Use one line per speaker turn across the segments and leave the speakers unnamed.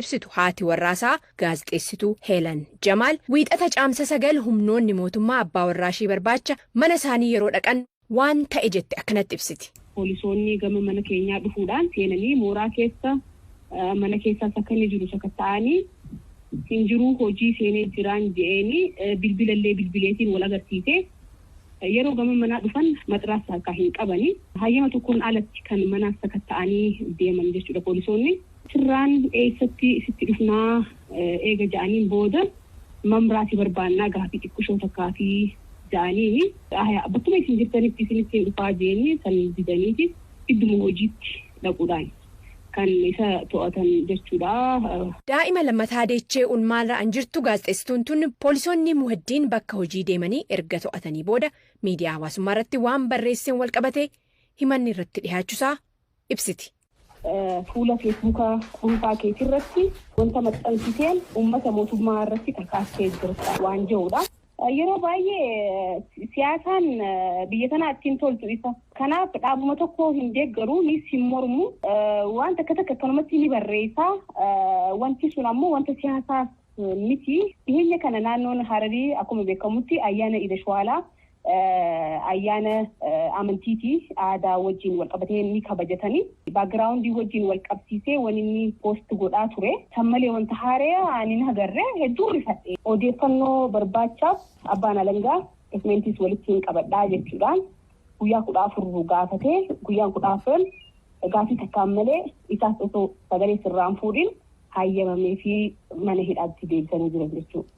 ibsitu haati warraasaa gaazexeessituu Heelan Jamaal Wiixata Caamsa 9 humnoonni mootummaa abbaa warraashii barbaacha mana isaanii yeroo dhaqan waan ta'e jette akkanatti ibsiti. Poolisoonni gama
mana keenyaa dhufuudhaan seenanii mooraa keessa mana keessaas akka inni jiru sakatta'aanii hin jiruu hojii seenee jiraan je'eeni bilbilallee bilbileetiin wal agarsiise. Yeroo gama manaa dhufan matraas harkaa hin qabani. Hayyama tokkoon alatti kan manaas sakatta'anii deeman jechuudha poolisoonni. Sirraan eessatti sitti dhufnaa eega ja'aniin booda mamraa si barbaannaa gaafii xiqqushoo takkaafii ja'aniini. Aaya bakkuma isin jirtanitti isinittiin dhufaa je'eenii san didaniiti idduma hojiitti dhaquudhaan kan isa to'atan jachuudha. Daa'ima
lammataa deechee un maal ra'an jirtu gaazexeessituun tun poolisoonni Muheddiin bakka hojii deemanii erga to'atanii booda miidiyaa hawaasummaa irratti waan barreesseen wal qabatee himanni irratti dhihaachusaa ibsiti. Fuula
Feesbuuka dhuunfaa keetirratti wanta maxxansiteen uummata mootummaa irratti kakaastee jirta waan jedhuudha. Yeroo baay'ee siyaasaan biyya tanaa itti hin toltu isa. Kanaaf dhaabuma tokko hin deeggaru, nis hin mormu. Waan takka takka akkanumatti ni barreessa. Wanti sun ammoo wanta siyaasaas miti. Dhiheenya kana naannoon Hararii akkuma beekamutti ayyaana Iida Shuwaalaa ayyaana amantii fi aadaa wajjin walqabatee ni kabajatani. Background wajjin walqabsiisee wan inni post godhaa ture. San malee wanta haaraya ani hin agarre hedduu rifadhe. Odeeffannoo barbaachaaf abbaan alangaa documents walittiin qabadhaa jechuudhaan guyyaa 14 gaafatee guyyaan 14n gaafii takkaan malee isaas osoo sagalee sirraa hin fuudhin hayyamamee fi mana hidhaatti deebisanii jiran jechuudha.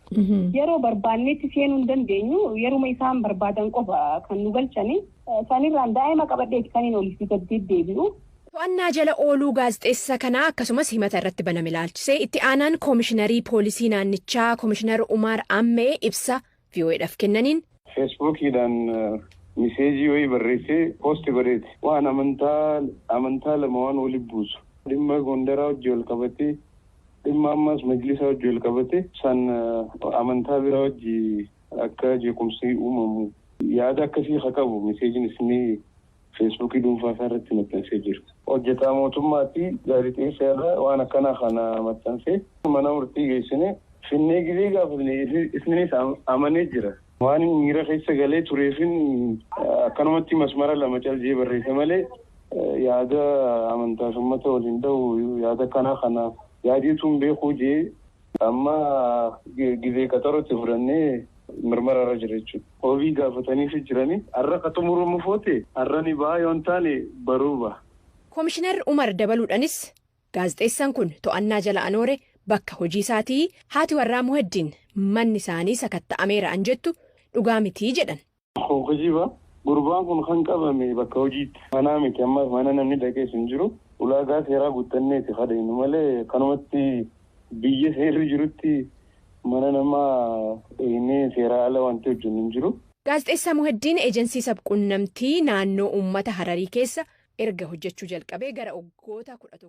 Yeroo barbaannetti seenuu hin dandeenyu yeruma isaan barbaadan qofa kan nu galchanii sanirraan daa'ima qabadheeti kan hin olii fi gad deddeebi'u. To'annaa jala
ooluu gaazexeessa kanaa akkasumas himata irratti baname ilaalchisee itti aanaan koomishinarii poolisii naannichaa koomishinar Umaar Ammee ibsa VOAdhaf kennaniin. Feesbuukiidhaan
miseejii wayii barreessee poosti godheeti. Waan amantaa amantaa lama waan wali buusu dhimma Gondaraa wajji wal qabatee dhimma ammaas majlisaa wajji wal qabatee san amantaa biraa wajji akka jeequmsi uumamu yaada akkasii ka qabu miseejiin isni Feesbuukii dhuunfaa isaa irratti maxxansee jira. Hojjetaa mootummaa ti, gaazexeessa irra waan akkanaa kana maxxanse mana murtii geessine. Finnee gizee gaafatne isninis amanee jira. Waanin miira keessa galee tureefin akkanumatti masmara lama cal jee barreesse malee yaada amantaas ummata ol hin dhahu yaada akkanaa kana yaadee tun beekuu jee. Amma gizee qaxaroo itti fudhannee mirmara irra jira jechuudha. Wabii gaafataniifi jiranii. Har'a ka xumuramu foote har'a ni baha yoo hin taane baruu baha. Komishinar
Umar dabaluudhanis gaazexeessan kun to'annaa jala anoore bakka hojii isaatii haati warraa Muheddiin manni isaanii sakatta'ameera an jettu dhugaa mitii jedhan. Kun kijiba.
Gurbaan kun kan qabame bakka hojiitti. Manaa miti ammaaf mana namni dhaqees hin jiru. Ulaagaa seeraa guuttanneeti ka dhaynu malee kanumatti biyya seerri jirutti mana namaa dhaynee seeraa ala wanti hojjennu hin jiru. Gaazexeessaa Muheddiin
Ejensii Sabquunnamtii naannoo uummata Hararii keessa erga hojjechuu jalqabee gara waggoota 11.